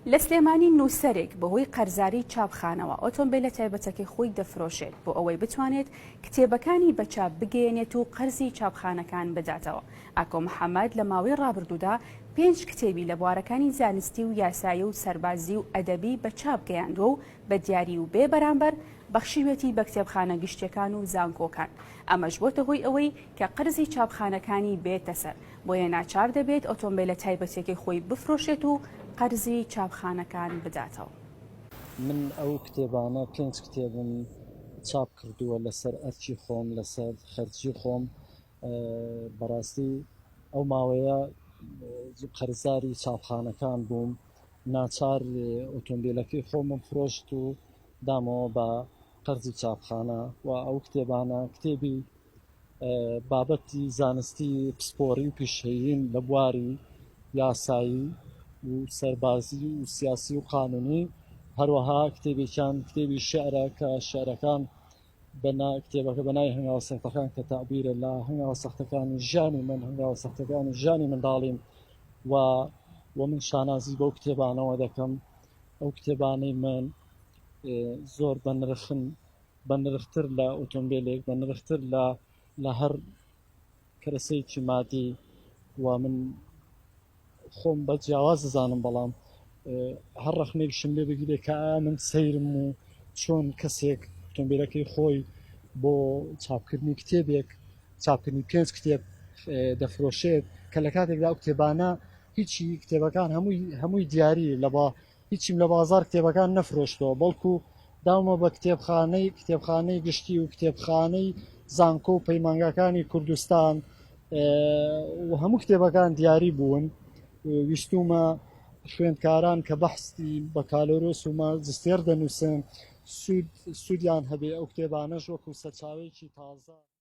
لە سلێمانی نووسەرێک بەهۆی قەرزاری چاپخانەوە ئۆتۆمبیلە تایبەتەکەی خۆی دەفرۆشێت بۆ ئەوەی بتوانێت کتێبەکانی بە چاپ بگەیەنێت و قەرزی چاپخانەکان بداتەوە ئاکۆ محەممەد لە ماوەی ڕابردوودا پێنج کتێبی لە بوارەکانی زانستی و یاسایی و سەربازی و ئەدەبی بە چاپ گەیاندوە و بە دیاری و بێ بەرامبەر بەخشیوێتی بە کتێبخانە گشتیەکان و زانکۆکان ئەمەش بۆتە هۆی ئەوەی کە قەرزی چاپخانەکانی بێتە سەر بۆیە ناچار دەبێت ئۆتۆمبێلە تایبەتیەکەی خۆی بفرۆشێت و قەرزی چاپخانەکان بداتەوە. من ئەو کتێبانە پێنج کتێبم چاپ کردووە لەسەر ئەرکی خۆم لەسەر خەرجی خۆم بەڕاستی ئەو ماوەیە قەرزاری چاپخانەکان بووم ناچار ئۆتۆمبیلەکەی خۆمم فرۆشت و دامەوە بە قەرزی چاپخانە و ئەو کتێبانە کتێبی بابەتی زانستی پسپۆڕی و پیشەییم لە بواری یاسایی و سەربازی و سیاسی و قانونی هەروەها کتێبێکیان کتێبی شعرە کە شعرەکان بەنا کتێبەکە بەنای هەنگاو سەختەکان کە تابیرە لە هەنگاو سەختەکانی ژیانی من هەنگاو سەختەکانی ژیانی منداڵیم و و من شانازی بەو کتێبانەوە دەکەم ئەو کتێبانەی من زۆر بەنرخن بە نرختر لە ئۆتۆمبێلێک بە نرختر لە لە هەر کەرەسەیەکی مادی و من خۆم بە جیاواز دەزانم بەڵام هەر ڕەخنێکشم لێ بگیرێ کە من سەیرم و چۆن کەسێک ئۆتۆمبیلەکەی خۆی بۆ چاپکردنی کتێبێک چاپکردنی پێنج کتێب دەفرۆشێت کە لە کاتێکدا ئەو کتێبانە هیچی کتێبەکان هەمووی هەمووی دیاری لە با هیچیم لە بازاڕ کتێبەکان نەفرۆشتەوە، بەڵکو داومە بە کتێبخانەی کتێبخانەی گشتی و کتێبخانەی زانکۆ و پەیمانگاکانی کوردستان و هەموو کتێبەکان دیاری بوون ویستومە خوێندکاران کە بەحستی بەکالۆرۆس و ماجستێر دەنووسن سوود سوودیان هەبێ ئەو کتێبانەش وەکو سەرچاوەیەکی تازە